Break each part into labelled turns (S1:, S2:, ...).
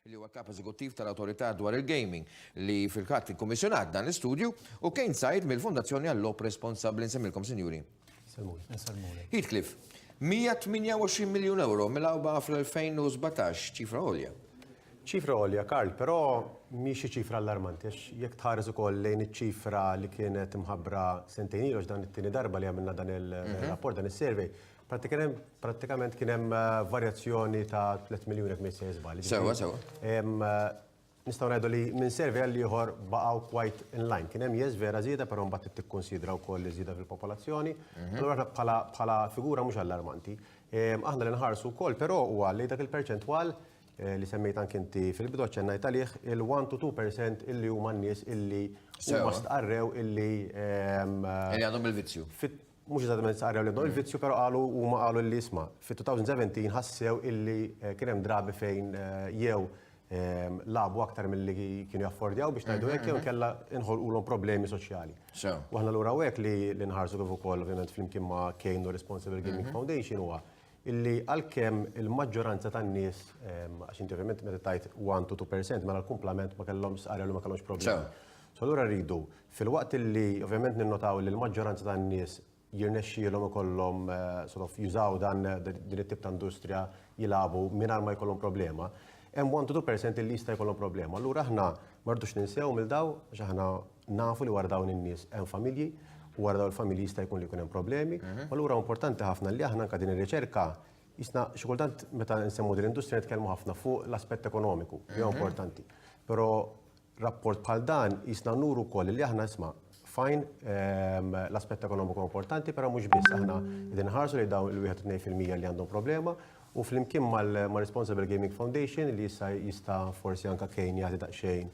S1: li huwa kap eżekuttiv tal-Awtorità dwar il-Gaming li fil-katt ikkummissjonat dan l-istudju u Kane Said mill-Fondazzjoni għall-Lop Responsabbli nsemmilkom sinjuri. Heathcliff, 128 miljun euro mill-awba fl-2017, ċifra għolja. ċifra għolja, Karl, però mhix xi ċifra allarmanti għax jekk tħares ukoll lejn iċ-ċifra li kienet imħabbra sentejn ilu dan it-tieni darba li għamilna dan il-rapport dan is-survey, Prattikament kien hemm varjazzjoni ta' 3 miljun jekk ma jissejjer żball. Sewwa, sewwa. Nistgħu ngħidu li minn survey għal ieħor baqgħu quite in line. Kien hemm yes vera żieda, però mbagħad trid tikkunsidra wkoll iż-żieda fil-popolazzjoni. Allura aħna bħala figura mhux allarmanti. Aħna li nħarsu wkoll però huwa li dak il-perċentwal li semmejt anke inti fil-bidu aċċennajt għalih il-one to two percent illi huma n-nies illi huma stqarrew illi. Illi għadhom bil-vizzju. mhux eżattament stqarrew li għandhom il-vizzju, però qalu huma qalu li isma' fit-2017 ħassew illi eh, kien hemm drabi fejn eh, jew ehm, labu aktar milli kienu jaffordjaw biex ngħidu hekk jew kella inħolqulhom problemi soċjali. Sew. U aħna lura hekk li li nħarsu kif ukoll ovvjament flimkien ma' Kane u Responsible Gaming Foundation huwa illi għalkemm il-maġġoranza tan-nies ehm, għax inti ovvjament meta tajt 1 to 2% mela l-kumplament ma kellhomx stqarrew li ma kellhomx problemi. Sew. So allura rridu Filwaqt li ovvjament ninnotaw li l-maġġoranza tan-nies jirnexxielhom ikollhom sort of jużaw dan din it-tip ta' industrija jilagħbu mingħajr ma jkollhom problema, hemm one to two percent li jista' jkollhom problema. Allura aħna ma rridux ninsew lil dawn għax aħna nafu li wara dawn in-nies hemm familji u wara dawn il-familji jista' jkun li jkun hemm problemi. Allura huwa importanti ħafna li aħna anke din ir-riċerka qisna xi kultant meta nsemmu din l-industrija nitkellmu ħafna fuq l-aspett ekonomiku li huwa importanti. Però rapport bħal dan qisna nuru wkoll li aħna isma' fine l-aspett ekonomiku importanti, però mhux biss aħna qegħdin nħarsu li dawn il-wieħed tnejn fil-mija li għandhom problema u flimkien mal-Responsible Gaming Foundation li issa jista' forsi anke Kane jagħti daqsxejn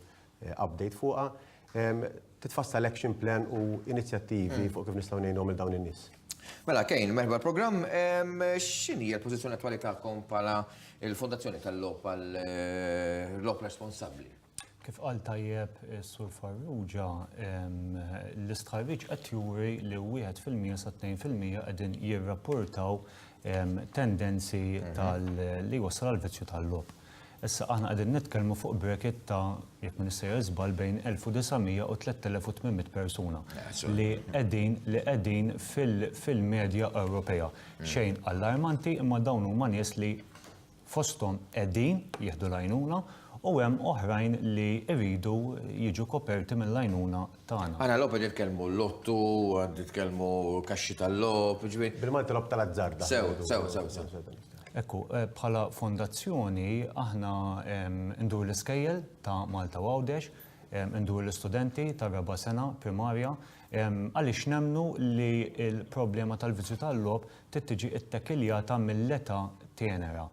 S1: update fuqha, titfassal action plan u inizjattivi fuq kif nistgħu ngħinuhom lil dawn in-nies. Mela Kane, merħba l-programm. X'inhi l-pożizzjoni attwali tagħkom bħala l-Fondazzjoni tal-Logħob għal Logħob Responsabbli? Kif qal tajjeb is-Sur Farrugia, l-istħarriġ qed juri li wieħed fil-mija sa tnejn fil-mija qegħdin jirrapportaw tendenzi li jwassal għal vizzju tal-logħob. Issa aħna qegħdin nitkellmu fuq bracket ta' jekk ma nissejjer żball bejn 1900 u 3800 persuna li qegħdin li qegħdin fil-medja Ewropea. Xejn allarmanti imma dawn huma nies li fosthom qegħdin jieħdu l-għajnuna u hemm oħrajn li jridu jiġu koperti mill-għajnuna tagħna. Għana logħob qed jitkellmu lottu, qed jitkellmu kaxxi tal-logħob, jiġifieri. Bil-Malti logħob tal-azzard aħna ngħidu. Sew, sew, sew, sew. Ekku, bħala fondazzjoni aħna ndur l-iskejjel ta' Malta u Għawdex, ndur l-istudenti tar-raba' sena primarja, Għaliex nemmnu li l-problema tal-vizzju tal-logħob trid tiġi ttekiljata mill-età tenera.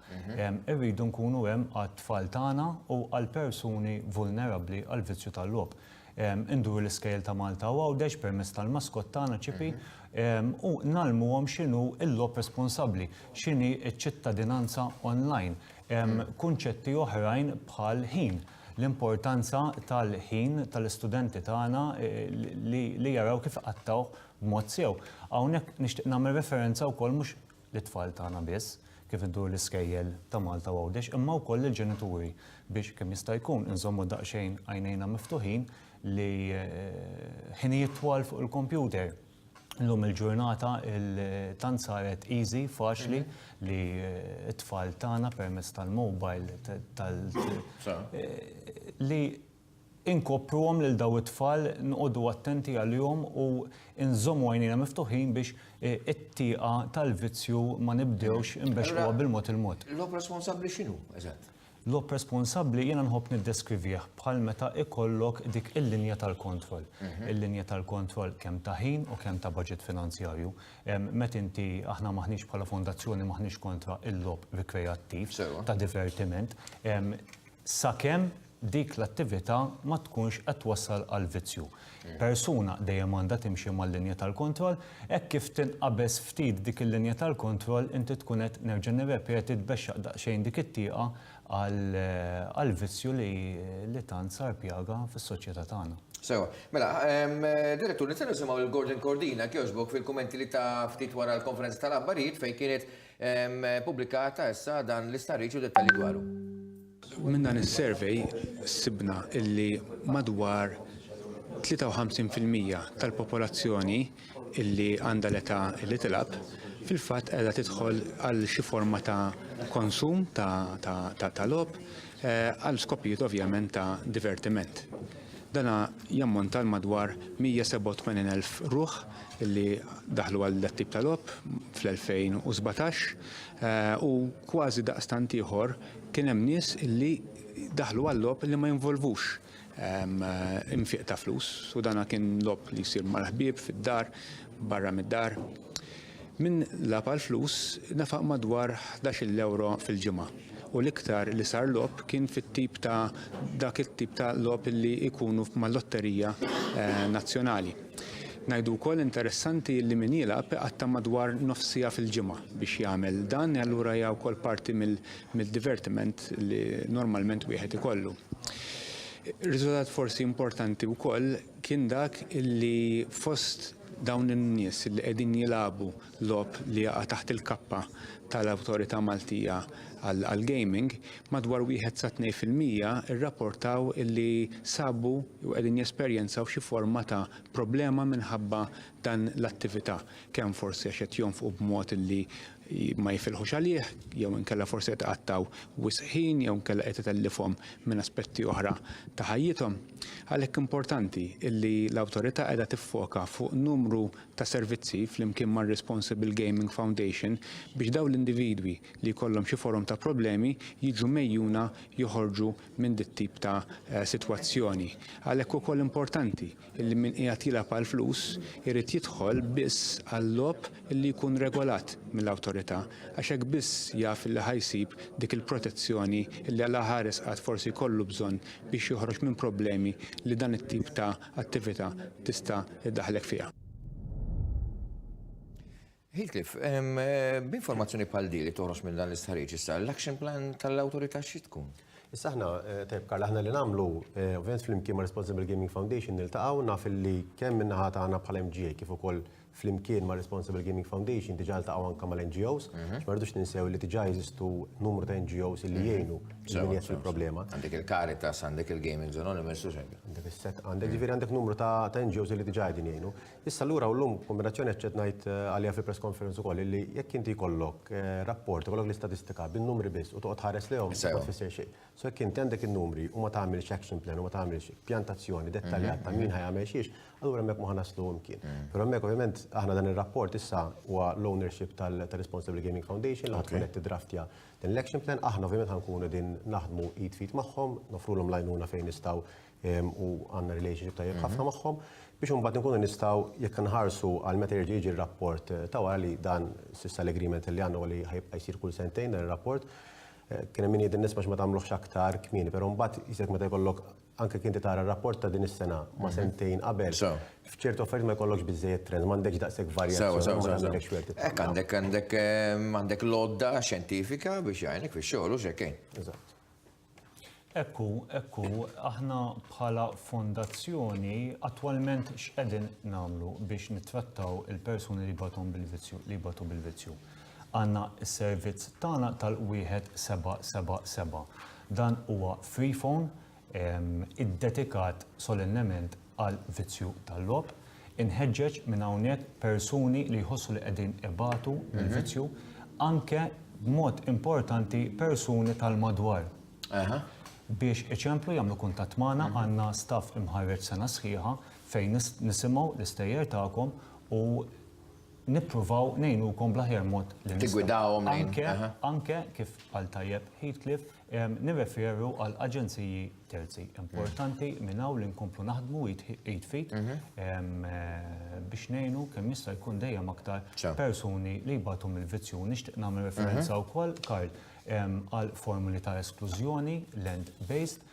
S1: Irridu nkunu hemm għat-tfal tagħna u għal persuni vulnerabbli għall-vizzju tal-logħob. Induru l-iskejjel ta' Malta u Għawdex permezz tal-maskott tagħna, Ċipi, u ngħallmuhom x'inhu l-logħob responsabbli, x'inhi ċ-ċittadinanza online, kunċetti oħrajn bħal ħin. l-importanza tal-ħin tal-istudenti tagħna li jaraw kif iqattgħuh b'mod sew. Hawnhekk nixtieq nagħmel referenza wkoll mhux lit-tfal tagħna biss kif idur l-iskejjel ta' Malta u Għawdex imma wkoll lill-ġenituri biex kemm jista' jkun inżommu daqsxejn għajnejna miftuħin li ħinijiet twal fuq il-kompjuter Illum il-ġurnata tant saret easy, faċli li t-tfal tagħna permezz tal-mobile tal li inkopruhom lil dawn it-tfal nqogħdu attenti għalihom u nżommu għajnejna miftuħin biex it-tieqa tal-vizzju ma nibdewx inbexxquha bil-mod il-mod. L-oħ responsabbli x'inhu eżatt? Logħob responsabbli jiena nħobb niddeskrivih bħal meta ikollok dik il-linja tal-kontroll. Il-linja tal-kontroll kemm ta' ħin u kemm ta' baġit finanzjarju. Meta inti, aħna m'aħniex bħala fondazzjoni m'aħniex kontra il-logħob rikreattiv, ta' divertiment, sakemm dik l-attività ma tkunx qed twassal għal vizzju. persuna dejjem għandha timxi mal-linja tal-kontroll, hekk kif tinqabeż ftit dik il-linja tal-kontroll inti tkun qed, nerġa' nirrepeti, tbexxaq daqsxejn dik it-tieqa għal vizzju li tant sar pjaga fis-soċjetà tagħna. Sewwa. Mela, Direttur, nista' nisimgħu lil Gordon Cordin, jekk jogħġbok, fil-kummenti li ta ftit wara l-konferenza tal-aħbarijiet fejn kienet Ppubblikata issa dan l-istħarriġ u dettalji dwaru. Minn dan is-survey sibna illi madwar 53 fil-mija tal-popolazzjoni illi għandha l-età li tilgħab fil-fatt qiegħda tidħol għal xi forma ta' konsum ta' logħob għal skopijiet ovvjament ta' divertiment. Dan jammonta għal madwar 187 elf ruħ li daħlu għal dat-tip ta' logħob fl-2017 u kważi daqstant ieħor kien hemm nies li daħlu għal logħob li ma jinvolvux infieq ta' flus u dan kien logħob li jsir mal-ħbieb fid-dar, barra mid-dar. Min lagħab għall-flus nefaq madwar ħdax-il ewro fil-ġimgħa u l-iktar li sar logħob kien fit-tip ta' dak it-tip ta' logħob li jkunu mal-lotterija nazzjonali. Ngħidu wkoll interessanti li min jilgħab iqatta' madwar nofs siegħa fil-ġimgħa biex jagħmel dan e allura hija wkoll parti mid-divertiment li normalment wieħed ikollu. Riżultat forsi importanti wkoll kien dak li fost Dawn in-nies li qegħdin jilagħbu logħob li jaqa' taħt il-kappa tal-Awtorità Maltija għall-Gaming, madwar wieħed sa tnej fil-mija rrapportaw li sabu jew qegħdin jesperjenzaw xi forma ta' problema minħabba dan l-attività, kemm forsi għax qed jonfqu b'mod li ma jifilħux għalih jew inkella forsi qed iqattgħu wisq ħin jew inkella qed itellifhom minn aspetti oħra ta' ħajjithom. Għalhekk importanti illi l-Awtorità qiegħda tiffoka fuq numru ta' servizzi flimkien mar-Responsible Gaming Foundation biex dawn l-individwi li jkollhom xi forom ta' problemi jiġu mgħejjuna joħorġu minn dit-tip ta' sitwazzjoni. Għalhekk ukoll importanti illi min qiegħed jilgħab għall-flus irid jidħol biss għal-logħob illi jkun regolat mill-Awtorità għax hekk biss jaf illi ħa jsib dik il-protezzjoni illi għalaha resqat forsi jkollu bżonn biex joħroġ minn problemi li dan it-tip ta' attività tista' ddaħħlek fiha. Hiltlif, b'informazzjoni bħal di li toħroġ minn dan l-istħarriġ issa, l-action plan tal-awtorità xi tkun? Issa aħna, eh, tajb Karl, aħna li nagħmlu, eh, ovvjament flimkien ma' Responsible Gaming Foundation niltaqgħu naf li kemm min-naħa tagħna bħala MGA kif ukoll flimkien ma' Responsible Gaming Foundation diġà ltaqgħu anke mal-NGOs, għax ma rridux ninsew li diġà jeżistu numru ta' NGOs li jgħinu lil min jgħix il-problema. Għandek il-Caritas, għandek il-Gaming Anonymous u xejn. Għandek ġifieri għandek numru ta' NGOs li diġà qegħdin jgħinu. Issa lura u llum kombinazzjoni qed ngħid għaliha fil-press conference ukoll li jekk inti jkollok rapport, ikollok l-istatistika bin-numri biss u toqgħod tħares lejhom ma tfisser xejn. So jekk inti għandek in-numri u ma tagħmilx action plan u ma tagħmilx pjan ta' azzjoni dettaljat ta' min ħa jagħmel xiex, Allura hemmhekk ma ħa naslu imkien. Però hemmhekk ovvjament aħna dan ir-rapport issa huwa l-ownership tal-Responsible Gaming Foundation li ħatkun qed tiddraftja din l-action plan. Aħna ovvjament ħankunu din naħdmu id f'id magħhom, nofrulhom l-għajnuna fejn nistgħu u għandna relationship tajjeb ħafna magħhom biex imbagħad inkunu nistgħu jekk inħarsu għal meta jerġa' jiġi r-rapport ta' wara li dan s'issa l-agreement li għandna huwa li ħajibqa' jsir kull sentejn dan ir-rapport. Kien hemm min jgħidilna isma' x'ma tagħmluhx aktar kmieni, però mbagħad jisek meta jkollok anke jekk inti tara r-rapport ta' din is-sena ma' sentejn qabel, f'ċerti offerti ma jkollokx biżżejjed trends, m'għandekx daqshekk varjazzjoni. Sewa, sewa, sewa. Hekk għandek, għandek, għandek l-għodda xjentifika biex jgħinek fix-xogħol u x'hekk. Eżatt. Hekk hu, hekk hu, aħna bħala fondazzjoni attwalment x'qegħdin nagħmlu biex nittrattaw il-persuni li jbatu bil-vizzju, li jbatu bil-vizzju. Għandna s-servizz tagħna tal-1777. Dan huwa free phone iddedikat solennement għal vizzju tal-logħob. Inħeġġeġ minn hawnhekk persuni li jħossu li qegħdin ibatu mill-vizzju, anke b'mod importanti persuni tal-madwar. Biex iċemplu jagħmlu kuntatt magħna għandna staff imħarreġ sena sħiħa fejn nisimgħu l-istejjer tagħkom u nippruvaw ngħinukom bl-aħjar mod li nistgħu. Tiggwidawhom lejn. Anke, anke, kif qal tajjeb Heathcliff, nirreferu għal aġenziji terzi. Importanti minn hawn li nkomplu naħdmu id f'id biex ngħinu kemm jista' jkun dejjem aktar persuni li jbatu mill-vizzju. Nixtieq nagħmel referenza wkoll, Karl, għal formuli ta' esklużjoni, land-based,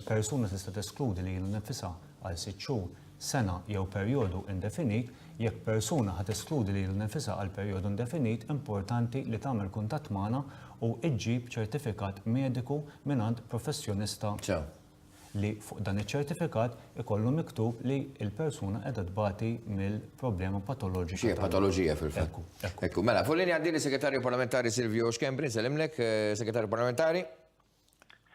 S1: Persuna tista' teskludi lilha nnifisha għal sitt xhur, sena jew perjodu indefinit, jekk persuna ħa teskludi lilha nnifisha għal perjodu indefinit importanti li tagħmel kuntatt magħna u ġġib ċertifikat mediku mingħand professjonista li fuq dan iċ-ċertifikat ikollu miktub li l-persuna qiegħda tbati mill-problema patoloġika. Xi patoloġija fil-fatt. Ekku. Mela, fuq linja għandi li Segretarju Parlamentari Silvio Schembri, nsellimlek, Segretarju Parlamentari.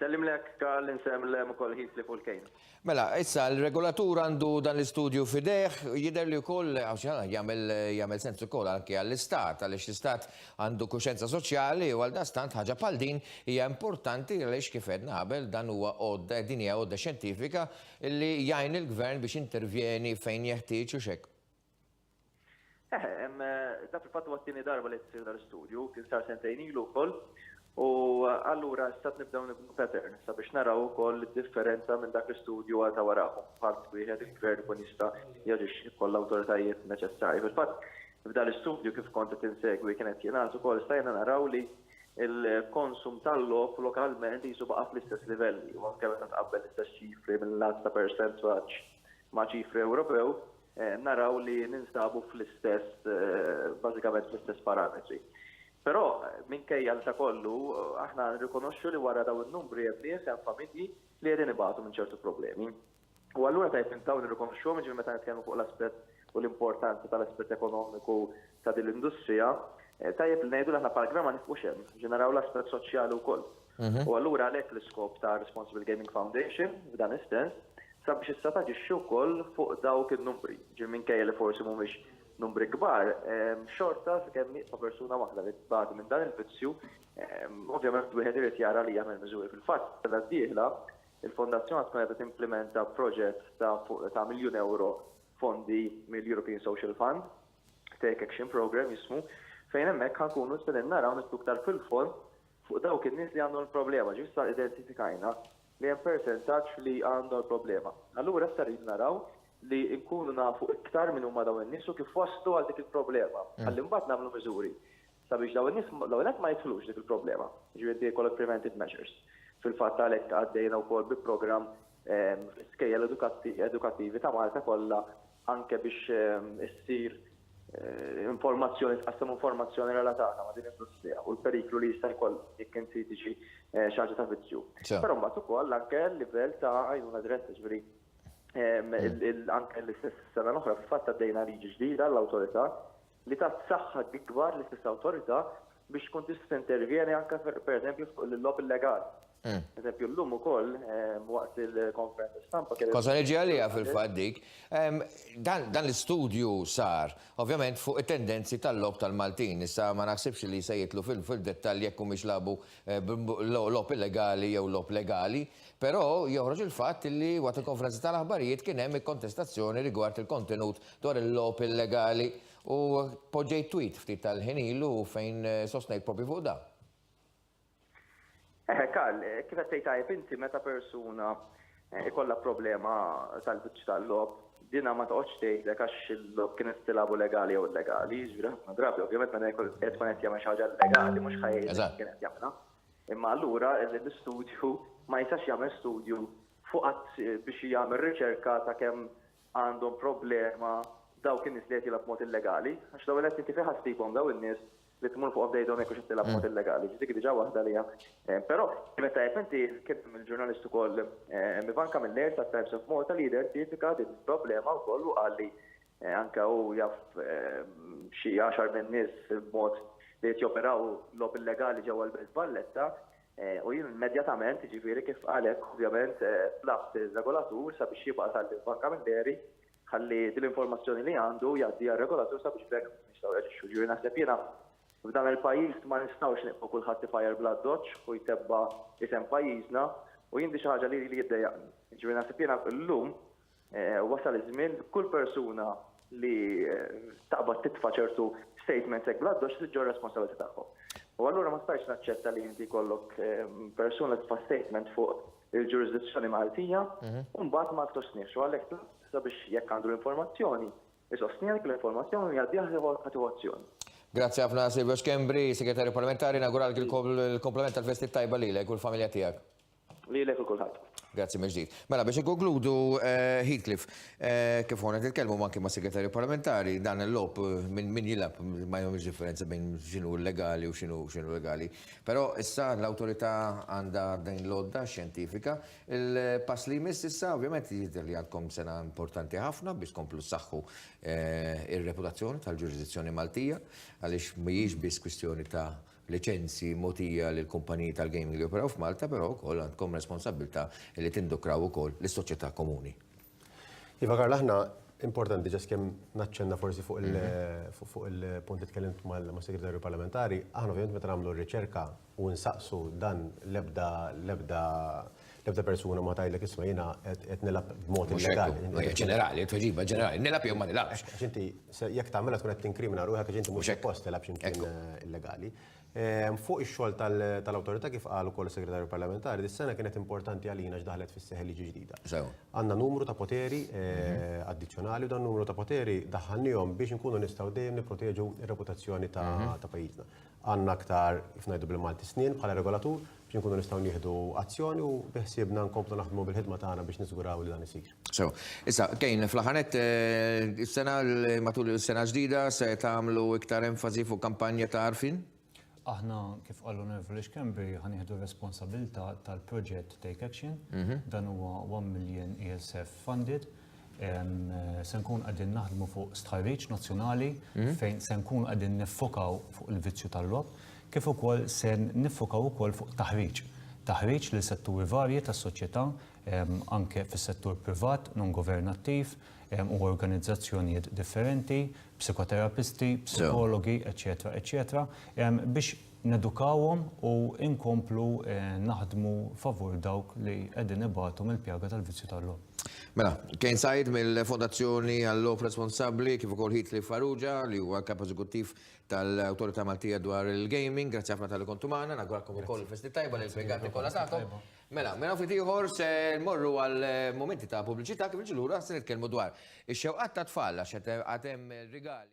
S1: Sellimlek Karl, insellem ukoll ħiet li fuq il-kejl. Mela, issa l-regolatur għandu dan l-istudju fidejh, jidher li wkoll jagħmel sens ukoll anke għall-istat, għaliex l-istat għandu kuxenza soċjali u għal dastant ħaġa bħal din hija importanti għaliex kif għedna qabel dan huwa għodda din hija għodda xjentifika li jgħin il-gvern biex intervjeni fejn jeħtieġ u x'hekk. Dak il-fatt huwa t-tieni darba li qed isir dan l-istudju, kien sar sentejn ilu wkoll, u allura issa qed nibdew nibnu pattern sabiex naraw ukoll id-differenza minn dak l-istudju għal ta' warajh u bħal mod wieħed il-Gvern ikun jista' jaġixxi jekk jkollu l-awtoritajiet neċessarji. Fil-fatt, f'dan l-istudju kif kont qed insegwi kien qed jingħad ukoll stajna naraw li l-konsum tal-logħob lokalment qisu baqa' fl-istess livelli u anke meta tqabbel l-istess ċifri minn lat ta' persentaġġ ma' ċifri Ewropew, naraw li ninsabu fl-istess, bażikament fl-istess parametri. Però, minkejja li ta' kollu, aħna nirrikonoxxu li wara dawn in-numri hemm nies, hemm familji li qegħdin ibatu minn ċertu problemi. U allura tajjeb li nibqgħu nirrikonoxxuhom, jiġifieri meta nitkellmu fuq l-aspett u l-importanza tal-aspett ekonomiku ta' din l-industrija, tajjeb li ngħidu li aħna Park Drama nifqux hemm, biex naraw l-aspett soċjali wkoll. U allura għalhekk l-iskop ta' Responsible Gaming Foundation, f'dan is-sens, sabiex issa taġixxi wkoll fuq dawk in-numbri. Ġifieri minkejja li forsi mhumiex numbri kbar, xorta sakemm nieqfa persuna waħda li tbati minn dan il-vizzju, ovvjament wieħed irid jara li jagħmel miżuri. Fil-fatt, is-sena d-dieħla, il-Fondazzjoni tkun qiegħda timplimenta proġett ta' fuq ta' miljun ewro fondi mill-European Social Fund, Take Action Programme jismu, fejn hemmhekk ħa nkunu se ninnaraw nidħlu iktar fil-fond fuq dawk in-nies li għandhom il-problema. Ġifieri issa identifikajna li hemm persentaġġ li għandhom il-problema. Allura issa rridu naraw li nkunu nafu iktar min huma dawn in-nies u kif waslu għal dik il-problema, ħalli mbagħad nagħmlu miżuri. sabiex dawn in-nies l-ewwel nett ma jidħlux dik il-problema, jiġifieri inti jkollok preventive measures. Fil-fatt għalhekk għaddejna wkoll bi programm ehm, fl-iskejjel edukattivi ta' Malta kollha anke biex ehm, issir eh, informazzjoni, tqassam informazzjoni relatata ma' din l-industrija u l-periklu li jista' jkoll jekk inti tiġi eh, xaġa ta' vizzju. Però mbagħad ukoll anke l-livell ta' għajnuna diretta ġifieri ehm, mm. anke l-istess sena l-oħra fil-fatt għaddejna liġi ġdida l-awtorità li tat saħħa ikbar lis-stess awtorità biex tkun tista' intervjeni anke pereżempju fuq il-logħob illegali. Hmm. Eżempju, l-lum u koll, ehm, waqt il-konferenza stampa. Kosa neġi għalija fil-fat dik. Ehm, dan l-istudju sar, ovvjament, fuq il-tendenzi tal-lob tal-Maltin. Issa ma naħsibx li se jitlu fil-dettal jekk mhumiex labu eh, lob illegali jew lob legali, però joħroġ il-fatt li waqt il-konferenza tal-aħbarijiet kien hemm il-kontestazzjoni rigward il-kontenut dwar il-logħob illegali u poġġejt tweet ftit tal-ħin ilu fejn eh, sostnejt propju fuq da. Eħe, Karl, eh, kif qed tgħid tajb inti meta persuna eh, ikollha problema tal-biċċ tal-logħob, dina ma toqgħodx tgħidlek għax il-logħob kien tilabu legali jew illegali, jiġri ħafna drabi, ovvjament meta jkun qed tkun qed jagħmel xi ħaġa legali mhux ħajjin kien qed jagħmilha. Imma allura l-istudju ma jistax jagħmel studju fuq biex jagħmel riċerka ta' kemm għandhom problema dawk in-nies li qed jilgħabu b'mod illegali, għax l-ewwel nett inti fejn ħa ssibhom dawn in-nies li tmur fuqhom tgħidhom jekk hux qed tilgħab b'mod illegali, ġifieri dik hi diġà waħda li hemm. Però kienet tajjeb inti kif il-ġurnalist ukoll Ivan Camilleri tat-Times of Malta li identifika din il-problema wkoll u qal li anke hu jaf xi għaxar min-nies b'mod li qed joperaw logħob illegali ġewwa l-Belt Valletta, U jien immedjatament, jiġifieri kif għalek, ovvjament, tlabt ir-regolatur sabiex jibgħat għalli Bank Camilleri ħalli din l-informazzjoni li għandu jgħaddiha r-regolatur sabiex bekk nistgħu reġixxu. Ġifieri naħseb jiena f'dan il-pajjiż ma nistgħux nieqfu kulħadd ifajjar bl-addoċċ u jtebba isem pajjiżna u jien di xi ħaġa li li jiddejjaqni. Ġifieri naħseb jiena llum Wasal iż-żmien li kull persuna li taqbad titfa' ċertu statements hekk bl-addoċċ trid ġġorr responsabilità tagħhom. U allura ma stajtx naċċetta li inti jkollok persuna titfa' statement fuq il-ġurisdizzjoni Maltija mhm. u mbagħad ma ssostniex. U għalhekk sabiex jekk għandu l-informazzjoni, isostni għalhekk l-informazzjoni jgħaddiha ħatiħu azzjoni. Grazie għafna Silvio Skembri, Segretarju Parlamentari, nagural il-komplement tal-festi tajba li l-ek u l-familja tijak. Lilek u kulħadd. Grazzi mill-ġdid. Mela biex ikkonkludu eh, Heathcliff, eh, kif ħonet il-kelmu manki ma' segretarju parlamentari, dan il-lop eh, minn min jilab ma jomx differenza bejn xinu legali u xinu xinu legali. Però issa l-autorità għandha din l-odda xjentifika. Il-pass li jmiss issa ovvjament jidher li għandkom sena importanti ħafna biex komplu saħħu ir-reputazzjoni tal-ġurisdizzjoni Maltija għaliex mhijiex biss kwistjoni ta' liċenzji mogħtija lill-kumpaniji tal-gaming li joperaw f'Malta, però wkoll għandkom responsabbiltà li tindukraw ukoll lis-soċjetà komuni. Iva Karl, aħna importanti ġas kemm naċċenna forsi fuq il-punt li tkellimt mas-Segretarju Parlamentari, aħna ovvjament meta nagħmlu r-riċerka u nsaqsu dan l-ebda L-ebda persuna ma tajlek isma' jiena qed nilgħab b'mod illegali. Mhux ġenerali, tweġiba ġenerali, nilgħab jew ma nilgħabx. Għax inti jekk tagħmilha tkun qed tinkrimina ruħek għax inti mhux post tilgħab x'imkien illegali. Ehm, fuq ix-xogħol tal-awtorità kif qal ukoll is-Segretarju Parlamentari, dis-sena kienet importanti għalina x'daħlet fis-seħħ liġi ġdida. Għandna numru ta' poteri eh, mhm. addizzjonali u dan numru ta' poteri daħħalnihom biex inkunu nistgħu dejjem nipproteġu r-reputazzjoni ta' mhm. pajjiżna. Għandna aktar, kif ngħidu bil-Malti, snien bħala regolatur biex inkunu nistgħu nieħdu azzjoni u biħsiebna nkomplu naħdmu bil-ħidma tagħna biex niżguraw li dan isir. Sew. Issa, Kane, fl-aħħar nett, is-sena, matul is-sena ġdida, se tagħmlu iktar enfasi fuq kampanja ta' għarfien? Aħna, kif qal l-Onorevoli Schembri, ħa nieħdu r-responsabilità tal-proġett Take Action. Dan huwa 1 million ESF funded se nkun qegħdin naħdmu fuq stħarriġ nazzjonali hmm? fejn se nkun qegħdin niffokaw fuq il-vizzju tal-lob, kif ukoll se niffokaw ukoll fuq taħriġ. Taħriġ li setturi varji tas-soċjetà anke fis-settur privat, non governattiv u organizzazzjonijiet differenti, psikoterapisti, psikologi, eċetera, eċetera, biex nedukawhom u nkomplu naħdmu favur dawk li qegħdin ibatu mill-pjaga tal-vizzju tal-logħob. Mela, Kane Said mill-Fondazzjoni għal-Logħob Responsabbli kif ukoll Heatley Farrugia li huwa l-Kap Eżekuttiv tal-Awtorità Maltija dwar il-Gaming. Grazzi ħafna tal-li kontu magħna, nagħguralkom ukoll festi tajba li l-impjegati kollha tagħkom. Mela, mela ftit ieħor se nmorru għal momenti ta' pubbliċità kif niġu lura se nitkellmu dwar ix-xewqat tat-tfal għax għad hemm rigali.